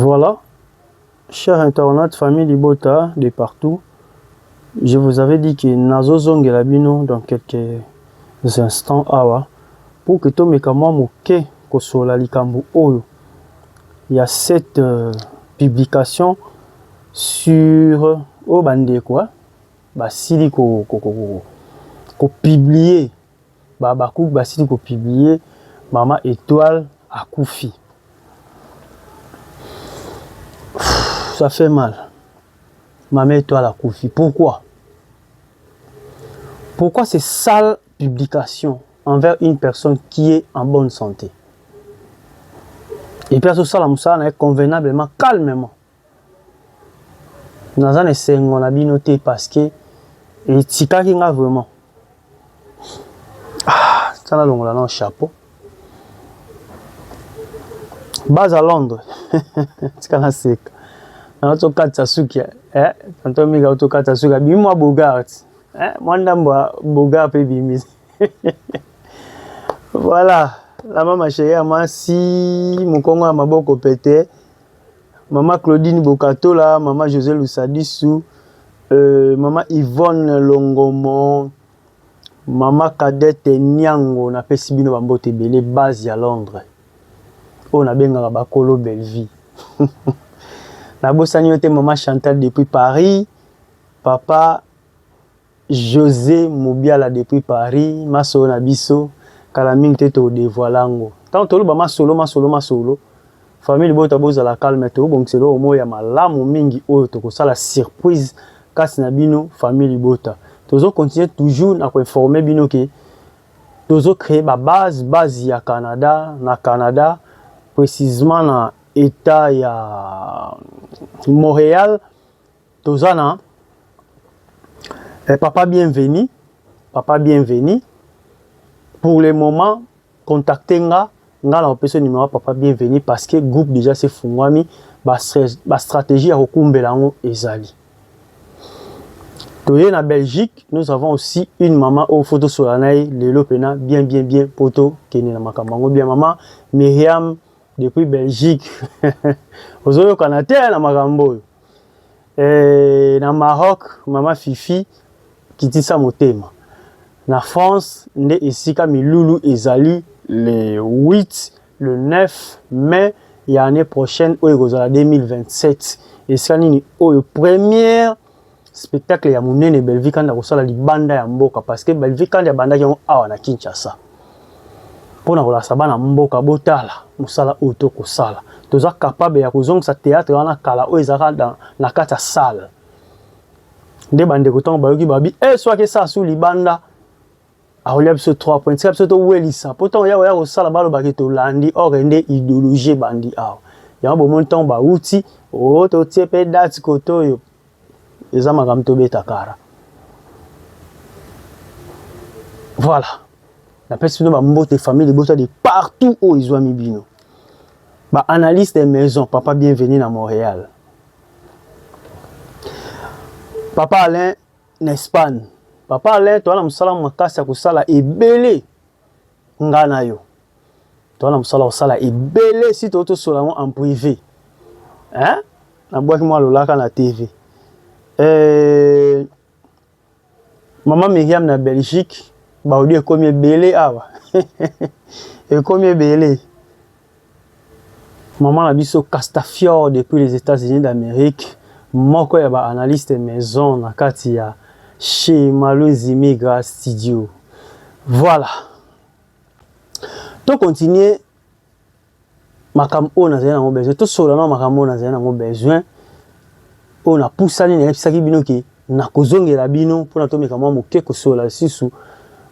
Voilà, chers internautes, famille Libota de partout, je vous avais dit que Nazo Zongela Bino dans quelques instants awa pour que tomeka mwa moke kosola likambo oyo ya cette euh, publication sur oyo ba ndeko hein basili ko ko ko ko publier ba habacuc basili ko publier mama etoile akufi ça fait mal mama etoile akufi pourquoi pourquoi c'est sale publication envers une personne qui est en bonne santé et puis azosala mosala na ye convenablement calmement Naza na esengo na bino te parce que etikaki nga vraiment. Ah, ça na longola na chapeau. Baza Londres. Tika na seka. Na to katsa suki eh tanto mika to katsa suki bimi mwa Bogart. Eh mwa ndambo Bogart pe bimi. Voilà, la mama chérie ya mwasi, mokongo ya maboko pete. Maman Claudine Bokatola, Maman Jose Lusadisu, euh, Maman Yvonne Longomo, Maman Cadette Niango, na pesi bino bambote ebele, base ya Londres. Oyo nabengaka bakolo Bellevue. nabosani yo te Maman Chantal depuis Paris, Papa Jose Mubiala depuis Paris masolo na biso kala mingi te to devoile yango tango toloba masolo masolo masolo famille libota bozala calme to bongisa eloko moko ya malamu mingi oyo toko sala surprise kati na bino famille libota tozo continuer toujours na ko informer bino ke tozo creer ba base base ya Canada na Canada precisement na etat ya Montreal toza na eh, papa bienvenu papa bienvenu pour le moment contacte nga nga na opesa numéro papa bienvenu parce que groupe déjà se fungwami ba, ba stratégie ya kokumbela yango ezali toye na belgique nous avons aussi une maman oyo fo tosola na ye lelo mpena bien bien bien mpo tokende na makambo yango bien mama miriam depuis belgique ozoyokana te na makambo oyo Eh, na Maroc, mama Fifi, kitisa motema. Na France, nde esika milulu ezali le 8, le 9 mai ya annee prochaine oyo ekozala 2027. Esika nini oyo première spectacle ya munene Bellevue Kandi akosala libanda ya mboka parce que Bellevue Kandi abandaki yango awa na Kinshasa. mpo na kolakisa bana mboka botala mosala oyo to kosala toza capable ya kozongisa théâtre wana kala oyo ezalaka na kati ya salle nde bandeko ntango bayoki babi e eh, soki esala su libanda akolia biso 3 point tika biso towelisa mpo ntango ya koya kosala balobaki tolandi or nde idéologie ebandi awa yango bomoni ntango bawuti o oh, totie mpe date kote oyo eza makambo tobeta kara voilà napesi bino bambote famille libota de partout oyo ezwami bino baanalyse de maison papa bienvenu na montréal papa alain na espagne papa alain toza na mosala makasi ya kosala ebele Nga na yo toza na mosala kosala ebele si toyo tosola yango en privé hein? nabwaki mwa lolaka na tv euh, mama miriam na belgique baudi ekomi ebele awa ekomi ebele Maman na biso Castafiore depuis les Etats-Unis d'Amerique, moko ya ba analystes maison na kati ya chez Malonzi Migra Studio. Voilà. To continuer makambo oyo nazali nango besoin, tosolola na makambo oyo nazali nango besoin, oyo napusani nayebisaki bino ke nakozongela bino mpona tomeka mwa moke kosolola lisusu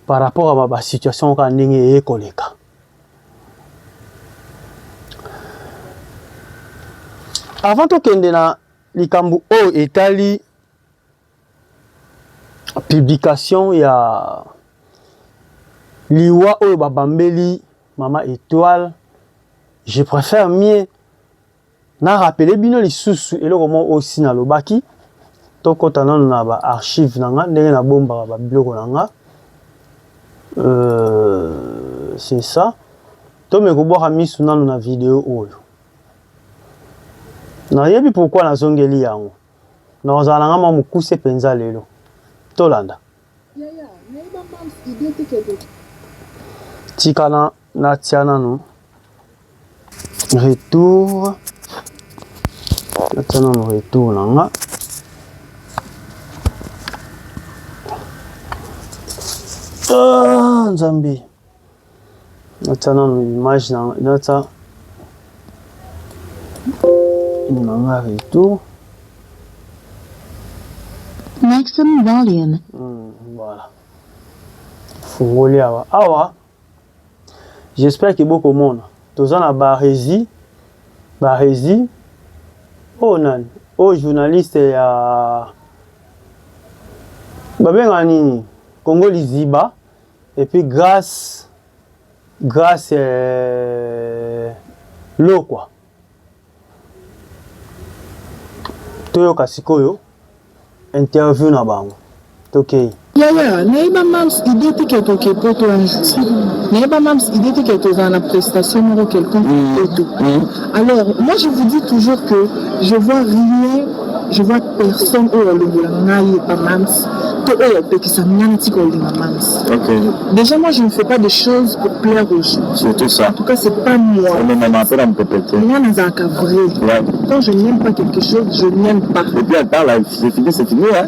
par rapport ya ba situation kaka ndenge eye koleka. Avant tokende na likambo oyo etali publication ya liwa oyo babambeli mama Etoile, je préfère mieux Na rappeler bino lisusu eloko moko oyo si nalobaki, tokota nanu na ba archives na nga ndenge na bombaka ba biloko na nga. Euh, c'est ça. Tome kobwaka misu nanu na video oyo. Nayebi pourquoi nazongeli yango. Nakozala na nga mwa mokuse penza lelo. Tolanda. Tika na natia nanu retour natia nanu retour na nga ah, nzambe Natia nanu image na natia nanga retour. Maximum volume. Hmm, voilà. Fungoli awa. Awa. J'espère que boko mona. Toza na barezi. Barezi. Oh nani. Oh journaliste ya babenga nini? Congo liziba. Et puis grâce grâce euh, lokwa toyoka sikoyo interview na bango tokei yaya nayeba mams idée te ke toke poto un jour nayeba mams idée te ke tozala na prestation moko quelconque poto alors moi je vous dis toujours que je vois rien Je vois personne oyo alongola ngai epa Mam's to oyo apekisa ngai natika kolinga Mam's. Ok. Déjà moi je ne fais pas des choses pour plaire aux gens. Surtout ça. En tout cas c'est pas moi. Mais maman après la mpepete. Moi nazalaka vrai. Ouais. Quand je n'aime pas quelque chose, je n'aime pas. Et puis attends là, c'est fini, c'est fini hein.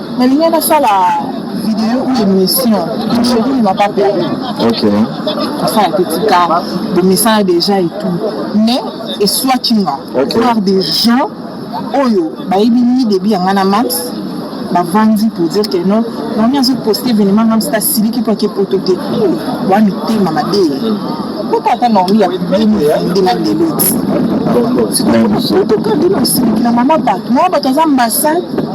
nalingi nasala video ou émission chérie ne m'a pas perdu ok asala te tika bomisana déjà et tout mais eswaki nga Ok. voir des gens oyo bayebi ni début ya nga na max bavandi pour dire que non nani azo poste événement nga msita siliki mpo ake poto te wa mitema mabe mpota ata normi ya 2022 na ndelo ti sikoyo poto kandina osiliki na mama bato mama bato aza ambassade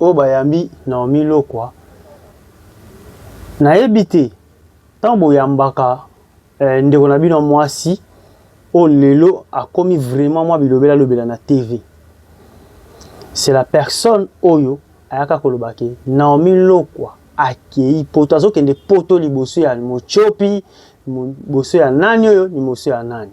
Oyo bayambi Naomi Lokwa nayebi te tango boyambaka ndeko na bino ya mwasi oyo lelo akomi vraiment mwa bilobela lobela na TV c'est la personne oyo ayaka koloba ke Naomi Lokwa akeyi poto azokende poto liboso ya motiopi liboso ya nani oyo liboso ya nani.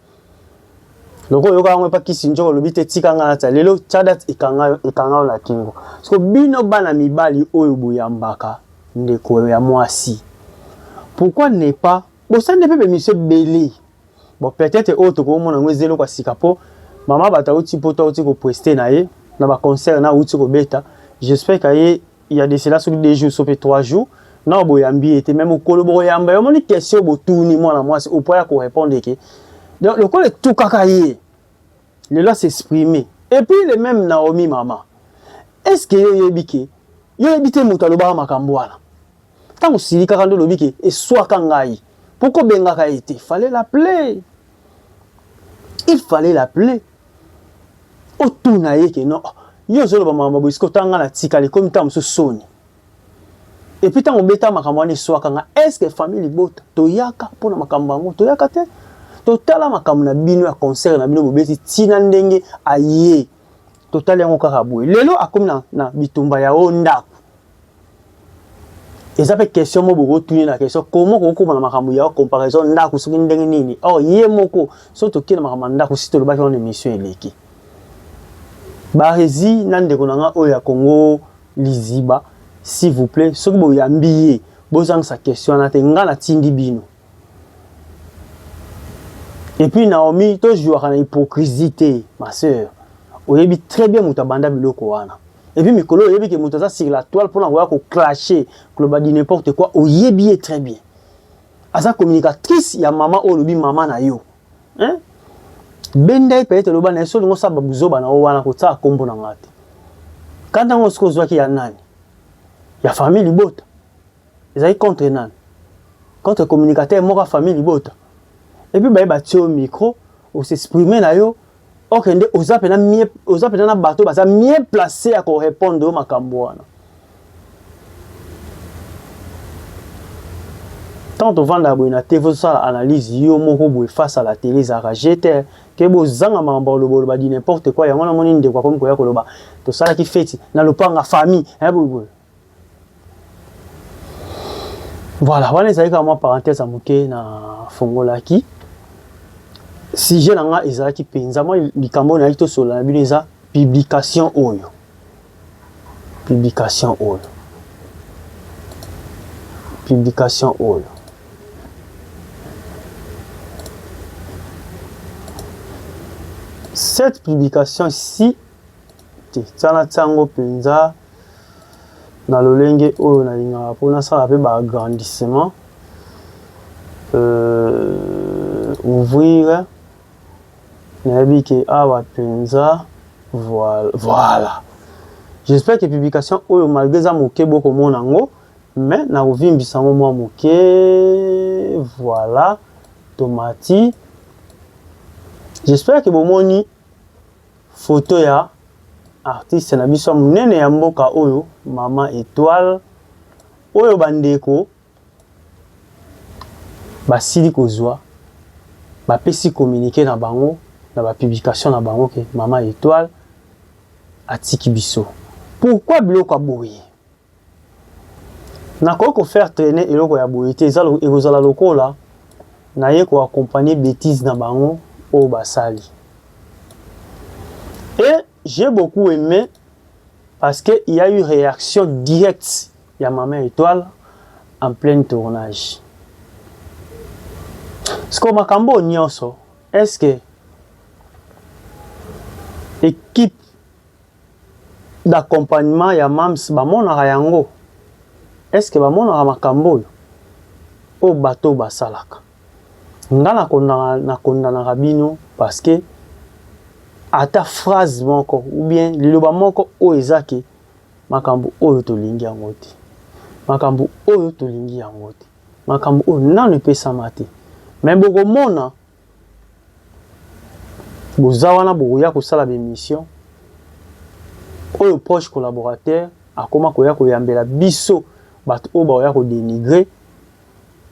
loko oyoka yango epa kisi njoko olobi te tika ngai natia lelo cadat ekanga yo ekanga yo na kingo siko bino bana mibali oyo boyambaka ndeko ya mwasi pourquoi ne pas bosande mpe bemisio ebele bon peut-être oyo tokomona yango eza eloko ya sika mpo mama bato auti mpo to auti kopreste na ye na baconcert na auti kobeta j'espère kaye il y a de cela soki deux jours sope trois jours nao boyambi ye te me mokolo bokoyamba ye omoni question botuni mwana mwasi opo ya korepondre eke donc lokola etukaka ye lelo asexprime et puis le même naomi mama est ce que yo oyebi ke yo oyebi te moto alobaka makambo wana ntango osilikaka nde olobi ke eswaka ngai mpo kobengaka ye te fale la play il fallait l'appeler. otuna ye ke no yo ozoloba makambo boye sikoyo tanga na tikala ekomi ntango mosusu soni epuis ntango obeta makambo wana eswaka nga estce famille libota toyaka mpo na makambo yango toyaka te totala makambo na bino ya concert na bino bobeti ntina ndenge aye totali yango kaka boye lelo akomi na, na bitumba ya o ndako eza mpe question moko bokotuni na question komo kokokoma na makambo ya comparaison ndako soki ndenge nini or oh, ye moko soki tokie na makambo ya ndako si tolobaki wana émission eleki barezi na ndeko na ngai oyo ya congo liziba s'il vous plaît soki boyambi ye bozangisa question wana te ngai natindi bino Et puis Naomi, to jouaka na hypocrisie te, ma sœur. Oyebi très bien moto abanda biloko wana. Et puis mikolo oyebi que moto aza sur la toile pona koya ko clasher, koloba du n'importe quoi, oyebi ye très bien. Aza communicatrice ya maman oyo lobi maman na yo. Hein? Benda ye peut-être loba na solo ngosa ba buzoba na o wana ko tsaka kombo na ngate. Kanda ngo siko zwaki ya nani? Ya famille libota. Ezali contre nani? Contre communicateur moko ya famille libota. Et puis baye batie au micro, o s'exprimer na yo, okende oza pena mieux, oza pena na bato baza mieux placé ya ko répondre yo makambo wana. Tant tovanda boye na TV osala analyse yo moko boye face à la télé ezalaka jete ke bozanga makambo ya lobo loba di n'importe quoi yango namoni ndeko akomi koya koloba tosalaki feti na lopanga famille eh boye boye Voilà, wana ezalaki kaka mwa parenthèse ya moke na fongolaki. Sujet na nga ezalaki mpenza mwa likambo oyo nayaki tosolola na bino eza publication oyo publication oyo publication oyo cette publication si te tia na tia yango mpenza na lolenge oyo nalingaka mpo nasala mpe ba agrandissement euh, ouvrir nayebi ke awa mpenza voilà, voilà. j'espère que publication oyo malgré eza moke bokomona yango mais nakovimbisa yango mwa moke voilà tomati j'espère que bomoni Photo ya artiste na biso ya munene ya mboka oyo maman Etoile oyo ba ndeko basili kozwa bapesi communique na bango na ba publication na bango ke maman Etoile atiki biso pourquoi biloko ya boye? nakoki ko faire trainer eloko ya boye te, eza ekozala lokola naye ko accompagner betise na bango oyo basali et j'ai beaucoup aime parce que il y a eu reaction directe ya mama Etoile en pleine tournage. Siko makambo nyonso est-ce que equipe d'accompagnement ya mam's bamonaka yango? Est ce que bamonaka makambo oyo oyo bato oyo basalaka? Nga na kondana na kondanaka bino parce que ata phrase moko ou bien liloba moko oyo eza ke makambo oyo tolingi yango te, makambo oyo tolingi yango te, makambo oyo nanu epesama te, mais bokomona boza wana bokoya kosala bemission oyo proche collaborateur akoma koya koyambela biso bato oyo baoya kodenigre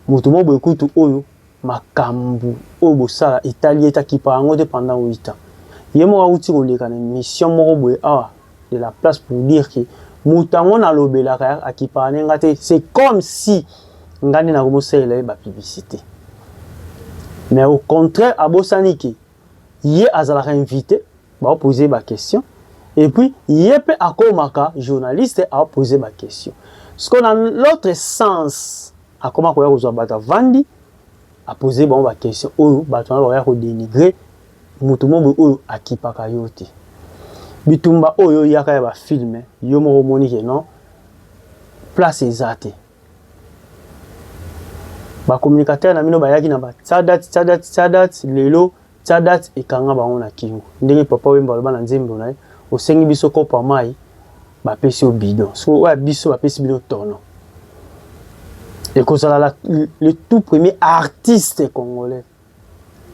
moto mo boye kutu oyo makambo oyo bosala etali ye takipa yango te pendant 8 ans ye moko awuti koleka na mission moko boye awa de la place pour dire que moto yango nalobelaka akipaka ne nga te c'est comme si nga nde nakomosalela ye bapiblicité mais au contraire abosani ke ye azalaka invité baopose ye baquestion et puis ye mpe akomaka journaliste aopose baquestion siko na l'autre sens akoma koya kozwa bato avandi apose bango baquestion oyo bato wana bakoya kodenigre Moto moko boye oyo akipaka yo te. Bitumba oyo yo oyaka ya ba film yo moko omoni ke non place eza te. Ba communicateurs na bino bayaki na ba tsadat tsadat tsadat lelo tsadat ekanga bango na kingo. Ndenge papa Wemba aloba na nzembo na ye osengi biso kopo ya mayi bapesi yo bidon. Sikoyo oyo ya biso bapesi bino tono. Ekozala le tout premier artiste congolais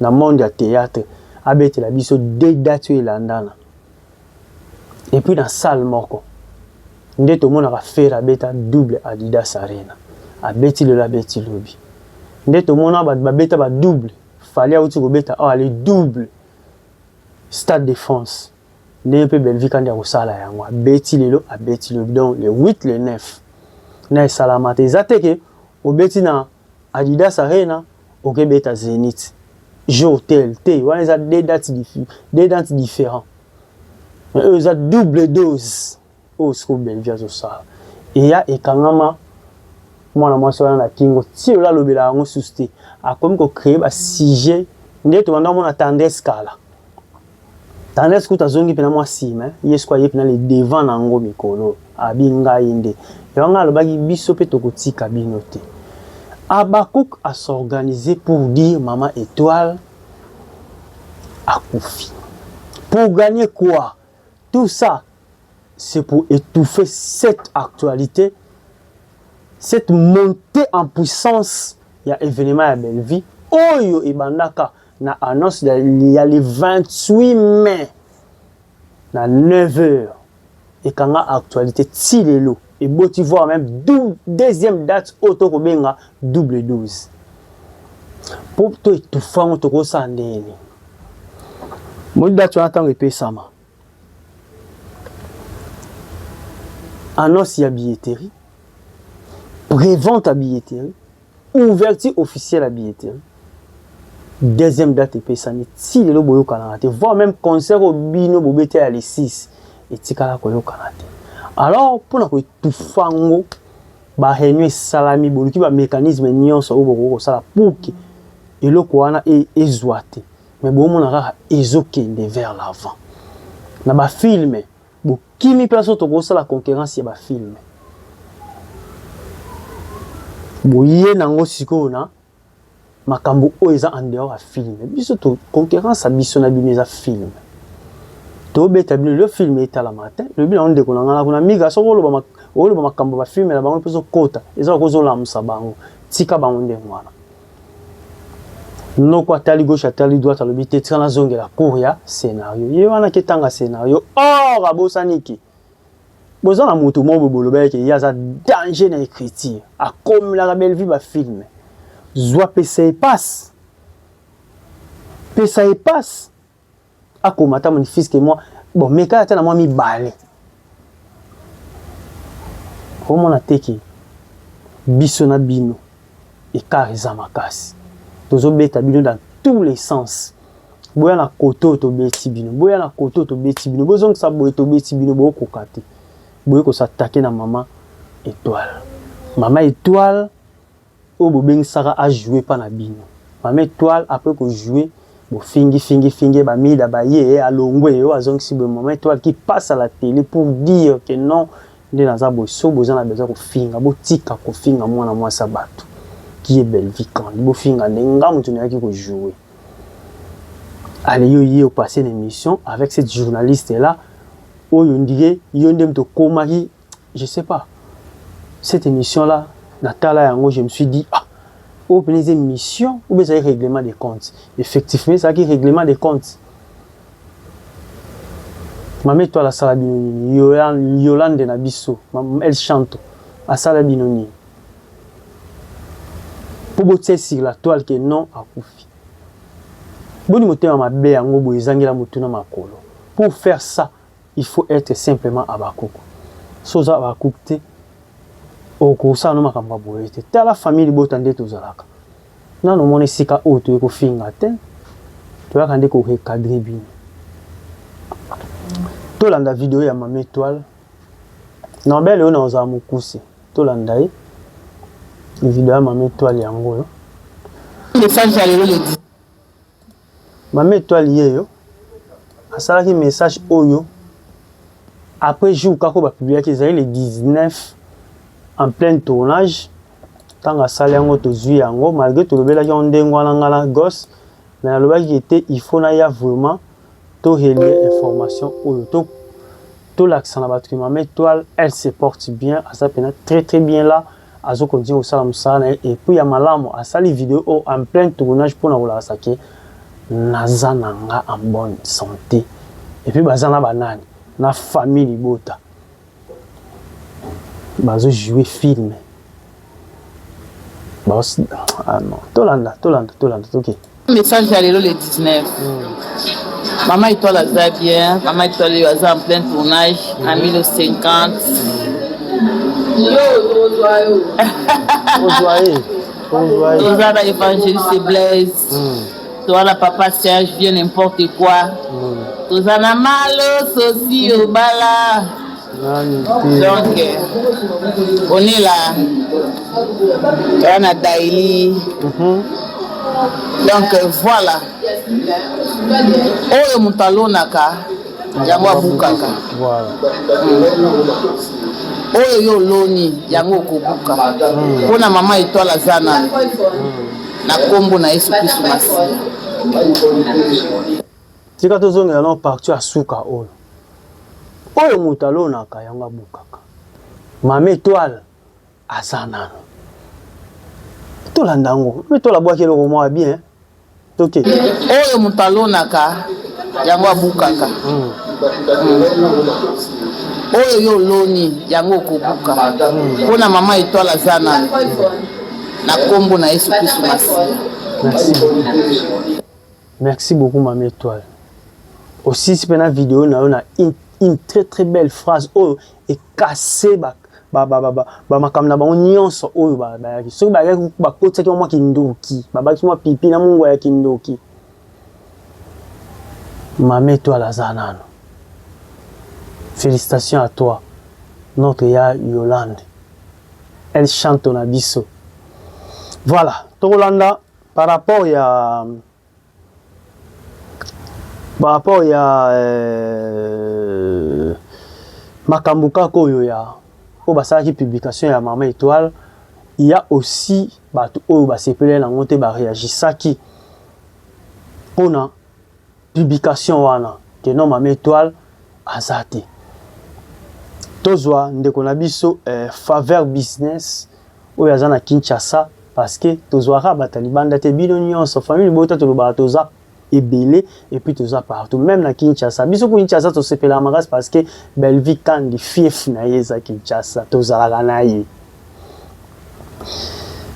na monde ya theatre abetela biso de date oyo elandana epuis na salle moko nde tomonaka fere abeta double adidas arena abeti lelo abeti lobi nde tomona bato babeta ba double fali awuti kobeta awa le double stade de france ndenge mpe belvi kandi akosala yango abeti lelo abeti lobi donc le 8 le 9 na esalamata eza te ke obeti na Adidas Arena oke beta Zenith jour tel te wana eza deux dates deux dates différents mais oyo eza double dose oyo siko Bellevue azosala eya ekangama mwana mwasi wana na kingo ti ola lobela yango susu te akomi ko créer ba sujet nde tobanda komona tendresse kala Tendresse kutu azongi mpe na mwa nsima eh. ye siko aye mpe na le devant na yango mikolo abi ngai nde yango ngai alobaki biso mpe tokotika bino te Habacuc a s'organiser pour dire mama Etoile akufi pour gagner quoi tout ça c'est pour étouffer cette actualité cette montée en puissance ya événement ya Bellevue oyo ebandaka Na annonce ya le 28 mai na 9 heures ekanga actualité ti lelo eboti voir même deuxième date oyo tokobenga double 12 mpo to etufa yango tokosala ndenge nini moi date wana ntango epesama annonce ya billetterie prévente ya billetterie Ouverture officielle ya billetterie. Deuxième date epesami ti lelo boyokanaka te voire même concert oyo bino bobeta ya le 6 etikala koyokana te alors mpo na koetufa yango bareunion esalami boluki bamécanisme nyonso oyo bokoki kosala pour ke eloko wana e, ezwa te mais boomona kaka ezokende vers l'avant na bafilme Bokimi mpe aso tokosala concurrence ya ba film. Boye nango sikoyo na makambo oyo eza en dehors ya film biso to concurrence ya biso na bino eza film tobeta bino lelo film etalama te lobi nango ndeko na ngai na kuna miga soki oloba oloba makambo bafilme na bango mpe ezokota eza okozolamusa bango tika bango ndenge wana noko atali gauche atali droite alobi te tika nazongela cour ya scenario ye wana ketanga scenario or abosani ke boza na moto moko bolobaki ke ye aza danger na écriture akomelaka bellevue bafilme zwa pesa ye pasi pesa ye pasi akoma ata manifeste mwa bon meka ata na mwa mibale omona te ke biso na bino ekart eza makasi tozobeta bino dans tous les sens boya na kote oyo tobeti bino boya na kote oyo tobeti bino bozongisa boye tobeti bino bokoka te boye kosatake na mama etoile mama etoile Oyo bobengisaka a jouer epa na bino. Mama etoile apres ko jouer bo fingi fingi fingi ye ba mida baye alongwe oyo azongisi boye mama etoile qui passe à la tele pour dire que non nde naza boye soki boza na besoin kofinga botika kofinga mwana mwasi ya batu qui est Bellevue Candy bofinga nde nga mutu nayaki ko jouer ale yo ye opase na emission avec cette journaliste là oyo ndike yo nde mutu okomaki Je sais pas. Cette émission là, na tala yango, je me suis dit ah, oyo pene eza émission ou bien ezali règlement des comptes. Effectivement, ezalaki règlement des comptes. Mame toi la sala bino nini? Yolande na biso, elle chante. Asala bino nini? Pour botia sur la toile que non akufi. Boni motema mabe yango boye ezangela motuna makolo. Pour faire ça, Il faut etre simplement Habacuc. Soki oza Habacuc te, okosala no makambo ya boye te. Tala famille libota nde tozalaka. Nano omona esika oyo toye kofinga te, toyaka nde ko recadrer bino. Tolanda video ya Mama Etoile. Norbel oyo naozala mokuse. Tolanda ye. Video ya Mama Etoile yango oyo. Message ya lelo le Mama Etoile yeyo asalaki message oyo après jour kaka ba publiaki ezali le 19 en plein tournage ntango asali yango tozwi yango malgré tolobelaki yango ndenge wana nga na gosse mais nalobaki ke te il faut naya vraiment torelie information oyo to tolakisa na bato ke mama etoile elle se porte bien aza mpena très très bien là azo continue kosala mosala na ye epuis ya malamu asali video oyo oh, en plein tournage mpo na kolakisa ke naza na nga en bonne santé epuis baza na banani na famille libota bazo joue film ah tolanda tolanda tolanda toke okay. Message ya lelo le 19. Mama Etoile aza bien, Mama Etoile yo aza en plein tournage na 1050. Ozwa ye. Ozwa ye. Toza na Evangeliste Blaise. Mm. Toza na Papa Serge vieux n'importe quoi. Mm. Toza na Malo Sosi Obala. donc onela wana daili mhm. donc voilà oyo moto alonaka yango abukaka oyo yo oloni yango okobuka mpo hmm. na mama etwale aza na hmm. na nkombo na yesu kristu masiya Tika tozongela na parti ya suka oyo. Oyo moto alonaka yango abukaka. Mame Etoile aza nano. Tolanda yango. Mame Etoile abwaki eloko mwa bien. Toke. Oyo moto alonaka yango abukaka. Mm. Mm. Oyo yo oloni yango okobuka. Mm. Mpo na mama Etoile aza nano. Na kombo na Yesu Kristo Masiya. Merci. Merci beaucoup mama etoile osilisi pena video na yo na une très très belle phrase oyo ekase ba bamakambo na bango nyonso oyo bayaki soki bayaki bakotisaki mwa kindoki babakisi mwa pipi na mongo ya kindoki mama etoile aza nano félicitation à toi notre ya yolande elle chante na biso voilà tokolanda Par rapport ya par rapport ya euh, makambo kaka oyo ya oyo basalaki publication ya Mama Etoile ya aussi bato oyo basepeleli nango te bareagisaki mpona publication wana que non mama etoile aza te tozwa ndeko na biso eh, faveur business oyo aza na kinshasa parce que tozwaka bata libanda te bino nyonso famille libota tolobaka toza ebele epuis toza partout meme na kinshasa biso ku kinshasa tosepelaka makasi parce que bellevie kandi fief na ye eza kinshasa tozalaka na ye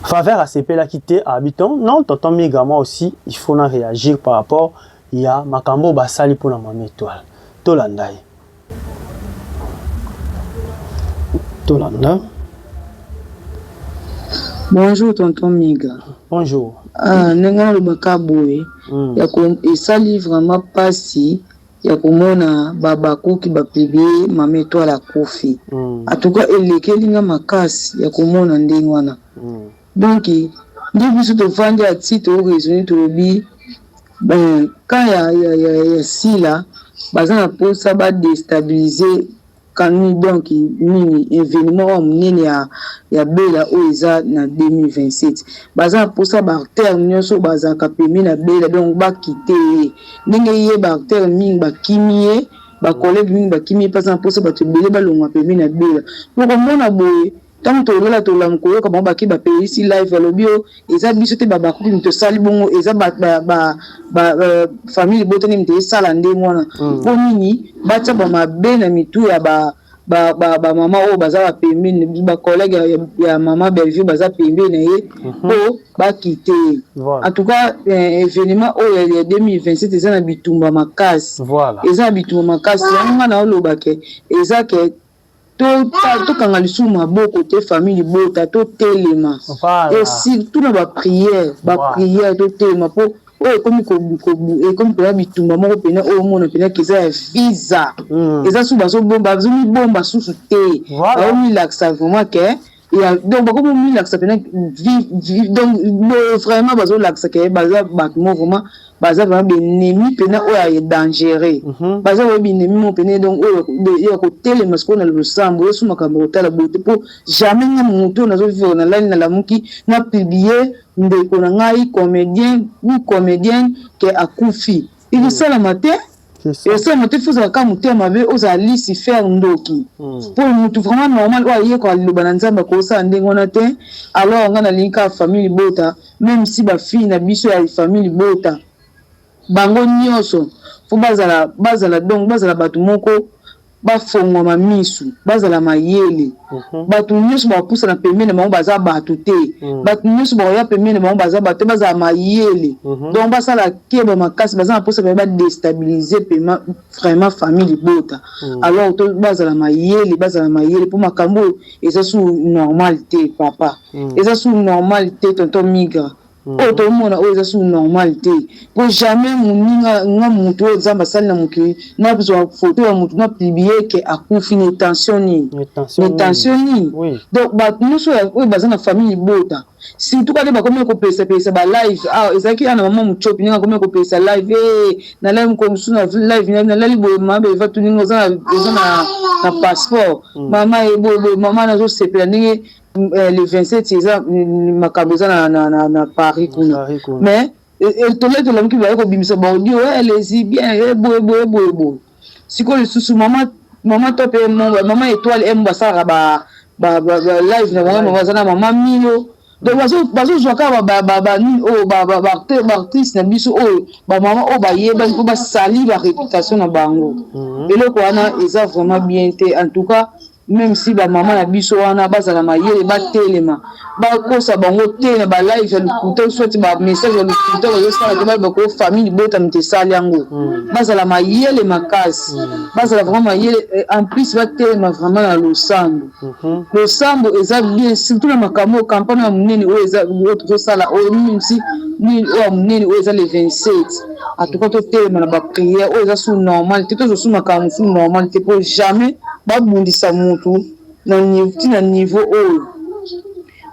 Faveur asepelaki te abi ton non tonton Miga moi aussi il faut na réagir par rapport ya makambo oyo basali mpo na Mama Etoile. Tolanda ye. Tolanda. Bonjour tonton Miga. Bonjour. Ah, ndenge nalobaka boye mm. ya esali vraiment pasi ya komona ba habakuc ba publie mama etoile akufi en tout cas elekeli nga makasi ya komona ndenge wana donc nde biso tovandi a ti to raisonne tolobi ben camp ya sila baza na posa ba destabilise Camille donc nini evenement oyo ya munene ya ya bella oyo eza na 2027 baza na posa ba artère nioso oyo bazalaka pembeni na bella donc ba kite ye ndenge ye ba artère mingi ba kimi ye ba collegue mingi ba kimi ye pe aza na posa batu ebele balongwa pembeni na bella bokomona boye Tango tolela tolamu koyoka bango bake ba peyisi live alobi oh eza biso te ba bakubi mutu esali bongo eza ba ba ba famille libota nde mutu esala ndenge wana po nini batia ba mabe na mitu ya ba ba ba mama oyo baza ba pembeni ba collègue ya mama Bellevue baza pembeni na ye po ba kite ye en tout cas evenement oyo ya 2027 eza na bitumba makasi eza na bitumba makasi yango nga naoloba ke eza ke Tokanga lisusu maboko te famille libota totelema et surtout na ba prière ba prière totelema po oyo ekomi ekomi pena bitumba moko pena oyo omona pena keza ya visa eza susu bazomibomba susu te baomilakisa vraiment ke Ya donc bako mo milakisa pena vi- vi- donc boye vraiment bazolakisa ke baza bato mo vraiment baza vraiment benemi pena oyo ya dangereux Mhm. baza oyo binemi mo pene donc oyo de- ya kotelema sikoyo na losambo yesu makambo ya kotala boye te mpo jamais nga moto oyo nazovivre na lani nalamuki na publie ndeko na ngai comédien ou comédienne ke akufi ekosalama te Esengo te fozala ka motema mabe ozala lisi fer ndoki hmm. po mutu vraiment normal oyo ayekola liloba na nzambe akosala ndenge wana te alors nga nalingi kaka famille libota meme si bafille na biso ya famille libota bango nyonso po bazala bazala donc bazala bato moko Bafongwama misu, bazala mayele. Bato nyonso bakopusana pembeni na bango baza bato te. Bato nyonso bakoya pembeni na bango baza bato te. Bazala mayele. Donc basala keba makasi. Baza na mposa penza ba destabiliser penza vraiment famille libota. Alors to bazala mayele, bazala mayele mpo makambo oyo eza susu normal te papa. Eza susu normal te tonton Migra. Oyo tomona oyo eza sous normal te po jamais muninga nga mutu oyo nzambe asali na mokili na zua photo ya mutu na publie que akufi ne tension nini ne tension nini donc batu nioso oyo baza na famille libota surtout kani bakomi ya kopelisa pelisa ba live awa ezalaki awa na maman mutshopi ndenge akomi ya kopelisa live ee na lali mokolo mosusu na live na na lali boye mama belva tuninga oza na oza na na passeport mama ye boye boye mama nazosepela ndenge eh, le 27 eza mm, makambo eza na, na, na, na paris kuna mais eh, eh, tola tola mokili baye kobimisa baaudio elezi bien eboye boye eboye boye sikoyo lisusu mama mama top mama étoile emo basalaka balive na bango baza na mama milo donc bazozwa kaka banini oyo baartiste na biso oyo bamama oyo bayebani mpo basali baréputation na bango mhm. eloko wana eza vraiment bien te en tout cas Meme si ba maman na biso wana bazala mayele batelema bakosa bango te na ba live ya lokuta ou soit ba message ya lokuta bazo sala te bayeba ko famille libota moto esali yango bazala mayele makasi bazala vraiment mayele en plus batelema vraiment na losambo losambo eza bien surtout na makambo oyo campagne ya monene oyo eza oyo tozosala oyo meme si nini oyo ya monene oyo eza le 27 en tout cas totelema na baprière oyo eza su normal te tozo su makambo su normal te mpo jamais babundisa mutu ti na niveau oyo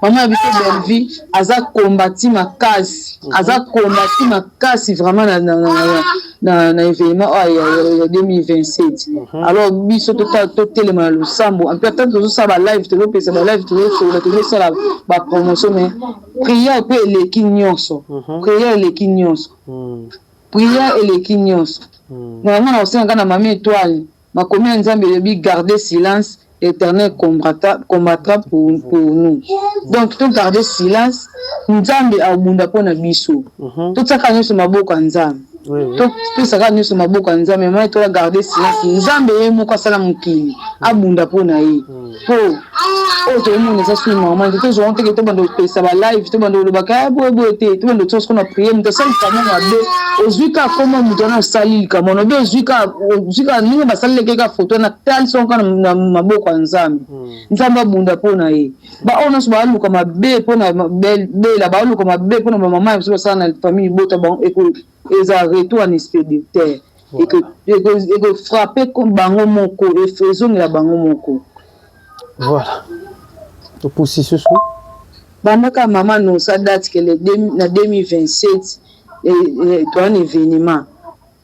mama ya biso bellevie aza combati makasi aza combati makasi vraiment na, na, na, na, na, na événement oyo ya, ya, ya 2027 alors biso tota- totelema na losambo mpe ata tozosala balive tozopesa balive tozosolola tozosala bapromotion mais Prière pe eleki nionso Prière eleki nionso Prière eleki nionso Na yango na kosenga kaka na Mama Etoile makomi ya Nzambe elobi garder silence l'Eternel combattra pour nous donc to garder silence Nzambe akobunda po na biso totia kaka nionso maboko ya Nzambe topesa kaka nionso maboko ya Nzambe Mama Etoile a garder silence Nzambe ye moko asala mokili abunda po na ye. po oyo toomona eza soki normal te tozwa nteke tobanda kopesa ba live tobanda kolobaka ya boye boye te tobanda otia siko na priere moto asali likambo mabe ozwi ka koma moto wana asali likambo wana obe ozwi ka ozwi ka ndenge basalelaki ka foto wana talisi yango kaka na maboko ya nzambe hmm. nzambe abunda mpo na ye baoyo nyonso baluka mabe mpo na bela baluka mabe mpo na bamama ya biso basala na famille libota bango eko eza retour en expéditaire Eko frappe bango moko ezongela bango moko. Voilà. Topusi susu. Bandaka mama nosa date que le na 2027 toa na evenement.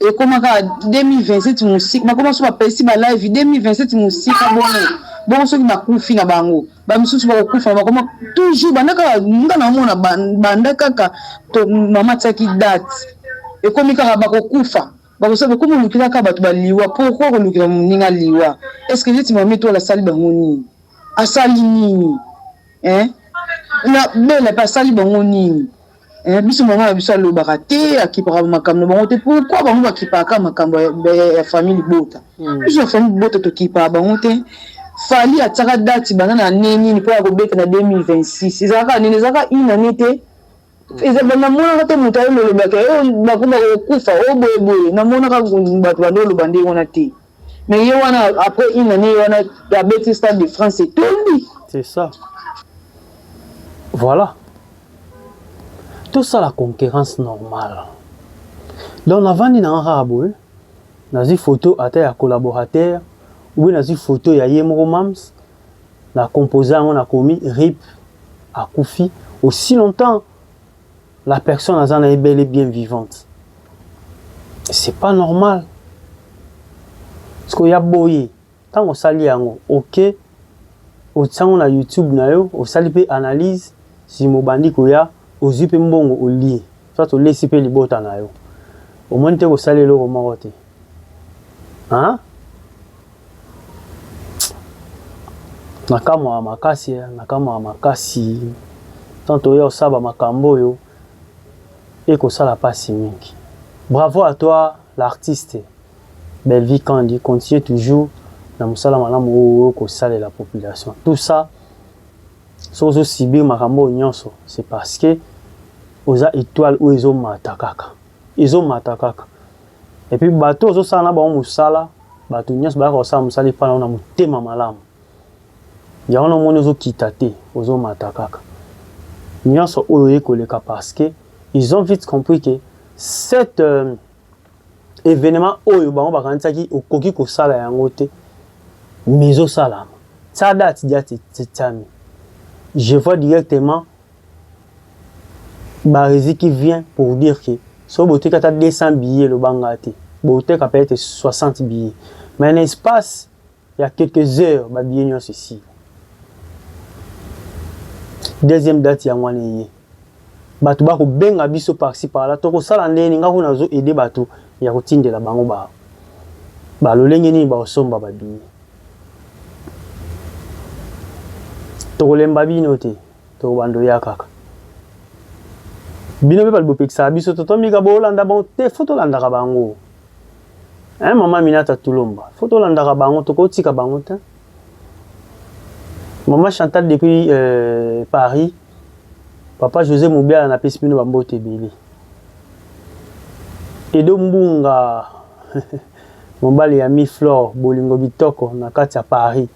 Ekoma kaka 2027 musika bakoma so bapesi ba live 2027 musika bongo bongo soki bakufi na bango. ba misusu bakokufa bakoma toujours banda kaka nga namona banda kaka to mama tiaki date ekomi kaka bakokufa bakosa bokomi olukila kaka bato baliwa pourquoi kolukila moninga liwa est-ce que neti mama etola asali bango nini asali nini eh na bela pe asali bango nini Eh, biso mama na biso alobaka te akipaka makambo na bango te pourkui bango bakipaka makambo ya famille libota hmm. biso ya famille libota tokipaka bango te fali atiaka dati banda na ane nini mpo ya kobeta na 2026 ezalaka nini ezalaka une année te hmm. ezaba namonaka te moto aye lolobaka oyo oh, bakoma kokufa oyo oh, boyeboye namonaka bato bande oloba nde wana te Mais ye wana après une annee ye wana abeti stade de France etondi. C'est ça. Voilà. Tout ça la concurrence normale. Donc navandi na nga boye nazwi photo ata ya collaborateur ou bien nazwi photo ya ye moko mams na composer yango nakomi rip akufi aussi longtemps La personne aza na ye bel et bien vivante. C'est pas normal. Parce que ya boye, tango osali yango, ok, otiango na YouTube na yo, osali pe analyse, si mobandi koya, ozui pe mbongo olie. Soit olesi pe libota na yo. Omoni te kosali eloko moko te. Hein? Na kamwa makasi eh, na kamwa makasi Tant oya osaba makambo oyo Eko sala pasi mingi Bravo à toi l'artiste Bellevue Kandy Continue toujours na musala malamu oyo oyo ko salela population Tout ça soki ozo subir makambo oyo nionso c'est parce que oza etoile oyo ezo mata kaka Ezo mata kaka. Et puis bato ozo sala na bango musala, bato nionso bayaka kosala musala epa na yo na motema malamu. Yango wana omoni ozo kita te, ozo mata kaka. Nionso oyo eko leka parce que ils ont vite compris que cette euh, evenement oyo bango bakanisaki okoki kosala yango te mais ezosalama ça date diati tetiami je vois directement barezi qui vient pour dire que soki boteki ata 200 billets loba nga te boteka peut être 60 billets mais na espace ya quelques heures ba billets nyonso esili deuxième date yango wana eye bato bakobenga biso parci parla tokosala ndenge nini nga kuna nazo aide bato ya kotindela bango ba balolenge nini baosomba babiye tokolemba bino te To bando ya kaka. Bino pe bali bopekisaka biso to tomika bolanda bango te fo tolandaka bango. Hein maman Minata Tulomba fo tolandaka bango tokotika bango te. Maman Chantal depuis euh, Paris Papa José Mubiala na pesi bino bambote ebele. Edo Mbunga mobali ya mi Flore bolingo bitoko na kati ya Paris.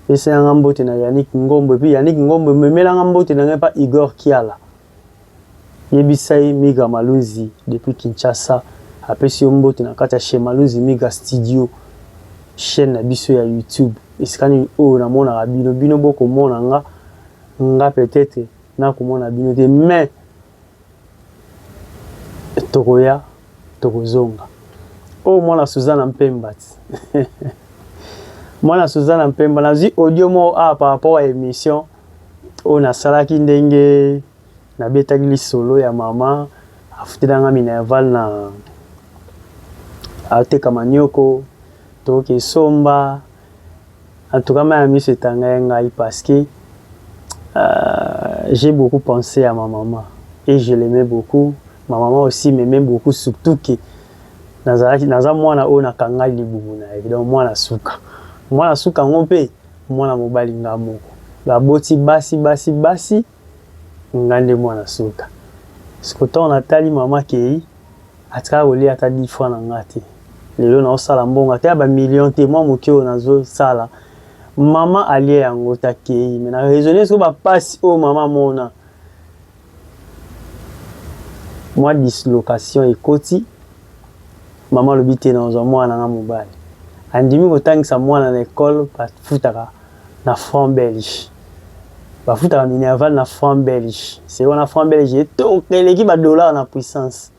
Pesa yanga mbote na Yannick Ngombo epuis Yannick Ngombo memela nga mbote na nga epa Igor Kiala. Yebisa ye Migra Malunzi depuis Kinshasa apesi yo mbote na kati ya chez Malunzi Migra Studio chaine na biso ya YouTube esika nini oyo na monaka bino bino boko mona nga nga peut etre nako mona bino te mais tokoya tokozonga oyo oh, mwana suzana mpemba ti mwana suzana mpemba nazwi audio moko awa ah, par rapport ya émission oyo nasalaki ndenge nabetaki lisolo ya mama afutelanga minerval na ateka manioko toke somba En tout cas ma ya miso etangai ngai parce que euh, j'ai beaucoup pensé à ma maman et je l'aimais beaucoup. Ma maman aussi m'aimait beaucoup surtout que nazalaki naza mwana oyo nakanga libumu na ye donc mwana suka mwana suka yango mpe mwana mobali nga moko baboti basi basi basi Nga nde mwana suka. Siko tango na tali mama akeyi, atikala kolia ata dix francs na nga te. Lelo nazo sala mbongo ata ya ba millions te, mwa moke oyo nazo sala mama alia yango te akeyi. Mais na raisonner sikoyo ba pasi oyo mama amona. Mwa dislocation ekoti, mama alobi te nakozwa mwana na nga mobali. Andimi ko tangisa mwana na ecole ba futaka na franc belge bafutaka minerval na franc belge seke wana franc belge etoka eleki ba dollar na puissance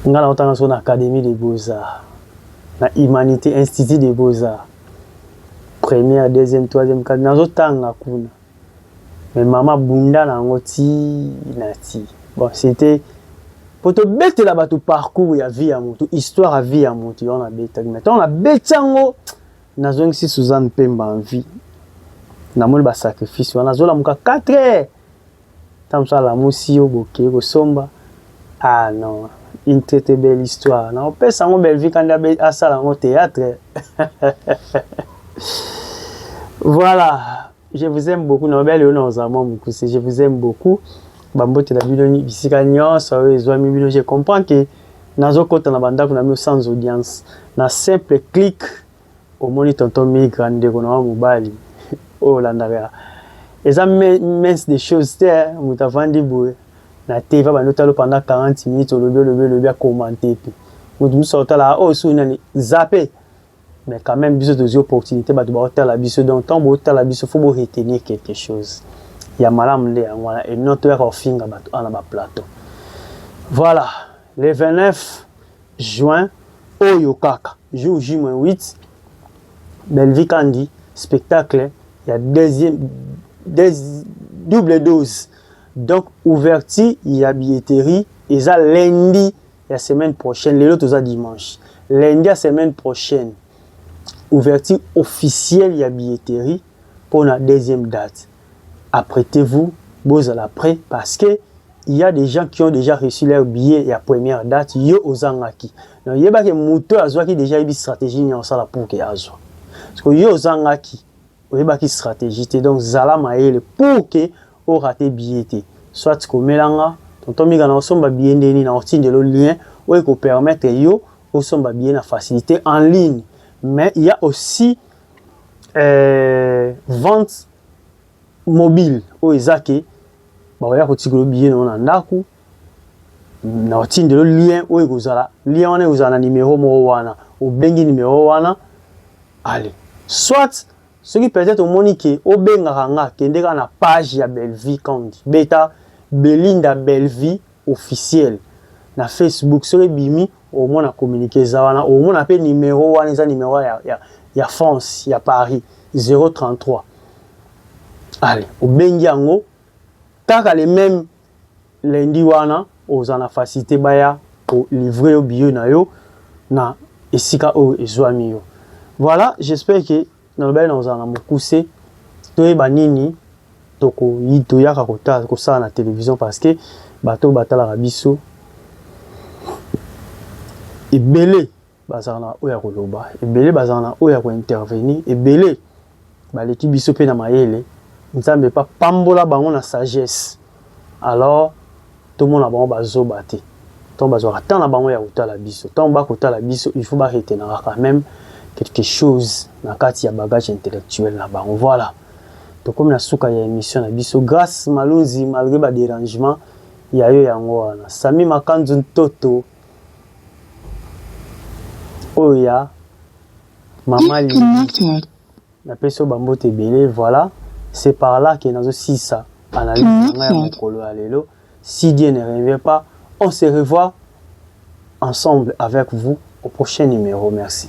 ngai naotanga so na académie de beaux arts na humanité institut de beaux arts première deuxième troisième quatrième nazotanga kuna mais mama bunda na yango ti na ti bon c'était mpo tobetela bato parcours ya vie ya motu histoire ya vie ya motu yango nabetaki mai ntango nabeti yango Nazongisi Suzanne Pemba en vie. Namoni ba sacrifice wana azolamuka 4 heures. Ntango mosusu alamusi yo bokei kosomba. Ah non, une très très belle histoire. Nakopesa yango Bellevue Kanda asala yango theatre. Voilà. Je vous aime beaucoup na obali ona oza mwa mukuse je vous aime beaucoup bambote na bino bisika nyonso oyo ezwami bino je comprends que nazokota na bandako na bino sans audience na simple clic omoni tonton migra ndeko na wa mobali oyo olandaka eza mince des choses te moto avandi boye na te va bando talo pendant 40 minutes olobi olobi olobi akomante te moto mosusu akotalaka oyo oh, suni nani zape Mais quand meme biso tozui opportunite batu bao tala biso donc tant bo tala biso faut bo retenir quelque chose ya malamu nde yango wana et non toyaka kofinga batu awa na ba plateau voilà le 29 juin oyo kaka jour J-8 Bellevue Kandi spectacle ya deuxième des, double dose donc ouverture ya billetterie eza lundi ya semaine prochaine lelo toza dimanche lundi ya semaine prochaine ouverture officielle ya billetterie pour la deuxième date apprêtez-vous bozala prêt parce que il y a des gens qui ont déjà reçu leur billet ya première date yo ozangaki donc yebaki moto azwaki déjà yebi stratégie nini akosala pour ke azwa parce que yo ozangaki oyebaki strategie te donc zala mayele pour que o rate billet te soit komela nga tonton mika na osomba billet nde nini na otindelo lien oyo eko permettre yo osomba billet na facilite en ligne mais il y a aussi euh, vente mobile oyo eza ke bakoya kotikolo billet na yo na ndako na otindelo lien oyo ekozala lien wana ekozala na numero moko wana obengi numero wana ale soit soki peut-être omoni ke obengaka nga kende kaka na page ya Bellevue Kandy beta Belinda Bellevue officiel na Facebook soki ebimi omona communique eza wana omona pe numero wana eza numero ya, ya, ya France ya Paris 033 ale obengi yango kaka le même Lundi wana oza na facilite baya ko livrer yo billet na yo na esika oyo ezuami yo. Voilà, j'espère que nalobaki nakozala na mokuse toyeba nini toko toyaka kotala kosala na television parce que bato batalaka biso ebele. Bazalaka na oyo ya koloba ebele, bazalaka na oyo ya ko intervenir ebele, baleki biso mpe na mayele. Nzambe mpe apambola bango na sagesse. Alors tomona bango bazoba te. Ntango bazwaka temps na bango ya kotala biso, ntango ba kotala biso il faut ba retenaka quand meme quelque chose na kati ya bagage intellectuel na bango. Voilà. Tokomi na suka ya emission na biso. Grace Malunzi malgre ba derangement ya yo yango wana. Samy Makanzu Ntoto. oyo ya mama Lili napesi yo bambote ebele voilà c'est par là que nazo sisa analyse na ngai ya mokolo ya lelo si Dieu ne revient pas on se revoit ensemble avec vous au prochain numéro merci